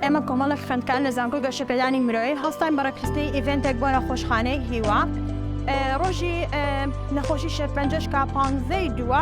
ئێمە کۆمەڵک خوێندکار لە زانکۆی گەشەپێدانی مرۆیی هەستاین بەڕێکخستنی ئیڤنتێک بۆ نەخۆشخانەی هیوا ڕۆژی نەخۆشی شێرپەنجەشکا پانزەی دووە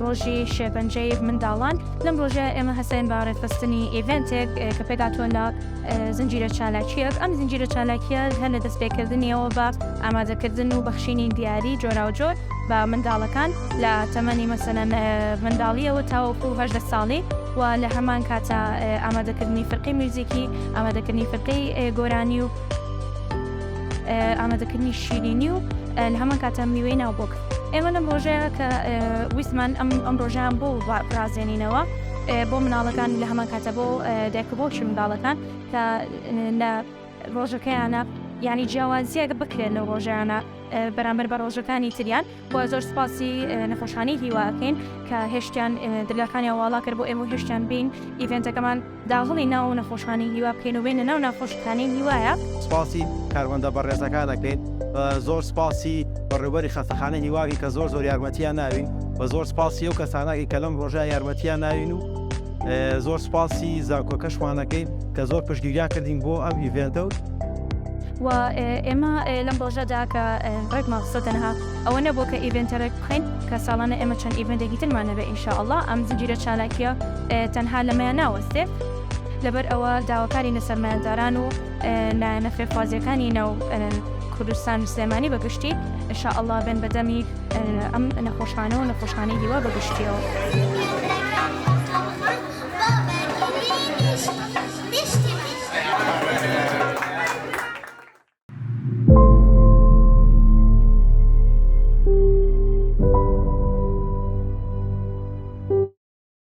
ڕۆژی شێرپەنجەی منداڵان، لەم ڕۆژەیە ئێمە هەستاین بە ڕێکخستنی ئیڤێنتێک کە پێکهاتووە لە زنجیرە چالاکییەک، ئەم زنجیرە چالاکییە هەر لە دەستپێکردنییەوە بە ئامادەکردن و بەخشینی دیاری جۆراوجۆر بە منداڵەکان لە تەمەنی مەسەلەن منداڵییەوە تاوەکوو هەژدە ساڵی و لە هەمان کاتە ئامادەکردنی فرقەی میوزیکی، ئامادەکردنی فرقەی گۆرانی و ئامادەکردنی شیرینی و لە هەمان کاتە میوەی ناو بۆک. ئێمە لەم ڕۆژەیە کە ویستمان ئەم ئەم ڕۆژیان بۆ ڕازێنینەوە بۆ مناڵەکان لە هەمان کاتە بۆ دایکبۆچی منداڵەکان کە لە ڕۆژەکەیانە ینی جیاوازیەکە بکرێن لە ڕۆژیانە بەرامبەر بە ڕۆژەکانی تریان بۆ زۆر سپاسی نەخۆشخانی هیواکەین کە هێشتیان دلەکانی واڵا کرد بۆ ئێمە هێشتیان بین ئیڤێنتەکەمان داهڵی ناو ئەو نەخۆشانەی هیوا بکەین و بێینە ناو ناخۆشیخانەی هیوایە. سپاسی کارمەندە بەڕێزەکان ئەکەین و زۆر سپاسی بەڕێوبەری خەستەخانەی هیوا ئەکەین کە زۆر زۆر یارمەتیان ناوین و زۆر سپاسی ئەو کەسانە ئەکەین کە لەم ڕۆژەیا یارمەتیان ناوین و زۆر سپاسی زانکۆکەشمان ئەکەین کە زۆر پشتگیریان کردین بۆ ئەم ئیڤێنتە و و ئێمە لەم ڕۆژەدا کە ڕێک ماخسۆ تەنها ئەوە نەبوو کە ئیڤێنتە ڕێک بخەین کە ساڵانە ئێمە چەند ئیڤێنتێکی ترمان هەبێ ئینشاءاللە ئەم زنجیرە چالاکیە تەنها لەمەیان ناوەستێ لەبەر ئەوە داواکاری نە سەرمایەداران و لایەنە فێرخوازیەکانی ناو کوردستان و سلێمانی بەگشتی شاء الله بن بەدەمی ئەم نەخۆشخانەوە نەخۆشخانەی هیوا بەگشتیەوە.